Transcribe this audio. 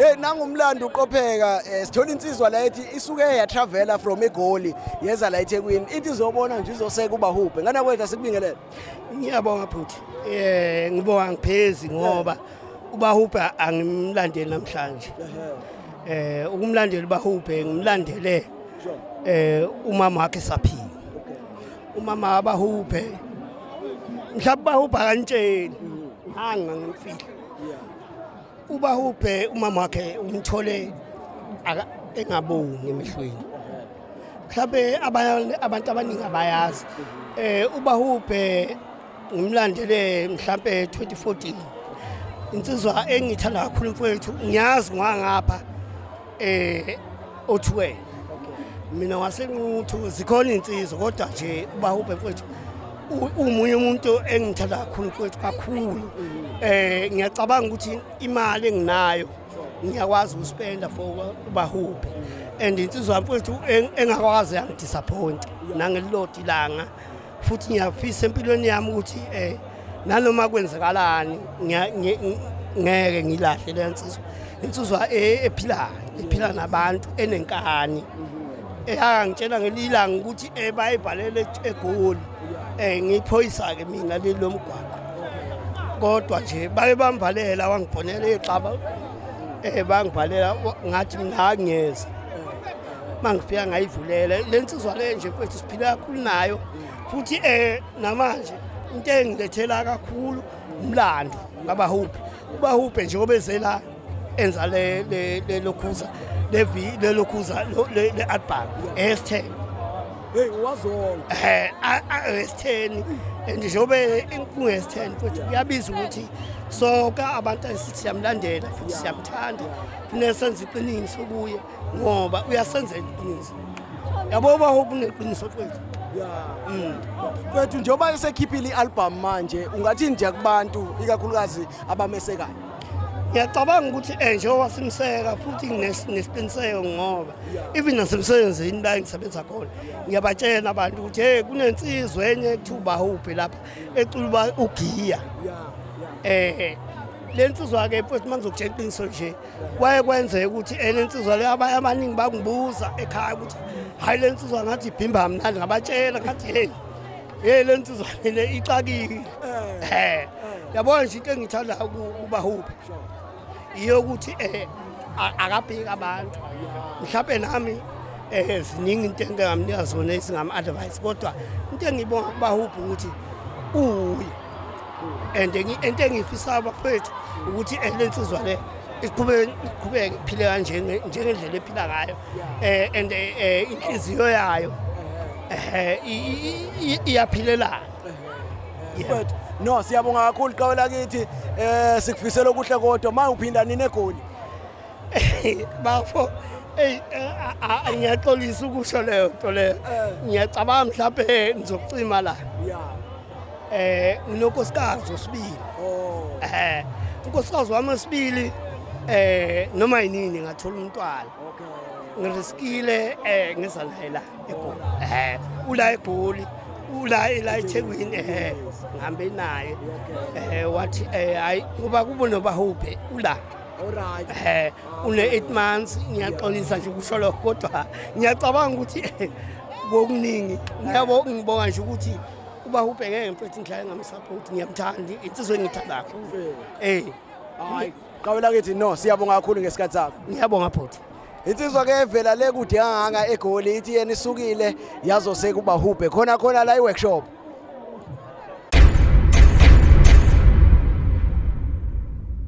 Hey nangumlando uqopheka eh, sithola insizwa la ethi isuke yatravela from eGoli yeza la eThekwini ithi izobona nje izoseka ubahubhe ngana kwethu asikubingelele Ngiyabonga bhuti eh ngibonga ngiphezi ngoba ubahubhe angimlandeli namhlanje eh ukumlandela ubahubhe ngimlandele eh umama wakhe saphila umama abahubhe mhlawumbe ubahubha kantsheni hanga ngimfihla ubahubhe umama wakhe umthole engabongi emehlweni mhlawumbe abantu abaningi abayazi um ubahubhe ngimlandele mhlawumbe 2014 insizwa engiyithanda kakhulu mfowethu ngiyazi ngwangapha eh othiwe mina wasenquthu zikhona insizwa kodwa nje ubahubhe mfowethu umunye umuntu engithanda kakhulu mfowethu kakhulu eh ngiyacabanga ukuthi imali enginayo ngiyakwazi ukuspenda for ubahubhe and insizwa mfowethu engakwazi yangidisappoint nangelilodi langa futhi ngiyafisa empilweni yami ukuthi eh nanoma kwenzakalani ngeke ngilahle le nsizwa insizwa e, ephilayo ephila nabantu enenkani eyangitshela ngelilanga ukuthi eh, bayibhalele egoli eh, ngiphoyisa-ke mina leli lomgwaqo kodwa nje baye bamvalela wangibhonela ixaba um bangibhalela ngathi mina angiyeza uma ngifika ngayivulela le nsizwa le nje mfethu siphile kakhulu nayo futhi um namanje into engilethela kakhulu umlando ngabahubhe ubahubhe nje obezela enza lelokhuza lelokhuza le-album esthe hey wazona eh awesitheni and njengobe kungesitheni futhi kuyabiza ukuthi sonke abantu esithi siyamlandela futhi siyamthanda kunesenza iqiniso kuye ngoba uyasenza iqiniso yabo uba uneqiniso kwethu mm. kwethu njengoba esekhiphile i-albhamu manje ungathi nje kubantu ikakhulukazi abamesekayo ngiyacabanga ukuthi um njengoba simseka futhi nesiqiniseko ngoba even nasemsebenzini la engisebenza khona ngiyabatshela abantu ukuthi hey kunensizwa enye ekuthiwa ubahuphi lapha ecula uba ugiya um le nsizwa-ke mfowethu uma ngizokutshela iqiniso nje kwaye kwenzeka ukuthi ele nsizwa leyo abanye abaningi bangibuza ekhaya ukuthi hhayi le nsizwa ngathi ibhimba mnandi ngabatshela ngathi heyi heyi le nsizwa le ixakile um eh, eh. yabona nje into engithanda kubahuphi iyokuthi um eh, akabheki abantu mhlawumbe nami um ziningi into engingamnika zona ezingam-advise kodwa into engiyibonga kubahuphi ukuthi uwuye and into engiyifisayo bafethu ukuthi eh, le nsizwa le iqhubeke iqhubeke iphile kanje njengendlela ephila ngayo eh and eh, eh inhliziyo yayo eh iyaphilela but no siyabonga kakhulu qhawe lakithi eh sikufisela okuhle kodwa manje uphinda nini egoli bafo Ey eh, ngiyaxolisa ukusho leyo nto leyo. Eh. Ngiyacabanga mhlawumbe ngizokucima la. Yeah. Eh nginonkosikazi osibili. Oh. Eh unkosikazi wami osibili eh noma yinini ngathola umntwana. Okay. Ngiriskile eh ngeza naye la eGoli. Eh ula eGoli. Ula ila eThekwini eh ngihambe naye. Eh wathi eh hayi kuba kubona bahubhe ula. Alright. Eh une 8 months ngiyaxolisa nje ukusho lokho kodwa ngiyacabanga ukuthi kokuningi ngiyabo ngibonga nje ukuthi Uba ubheke mfethu ngidlala engamsupport ngiyamthanda insizwe engithanda kakhulu. Eh. Hayi, qawela kithi no siyabonga kakhulu ngesikhathi sakho. Ngiyabonga bhuti. Insizwa ke evela le kude kangaka egoli ithi yena isukile yazose kubahubhe khona khona la iworkshop.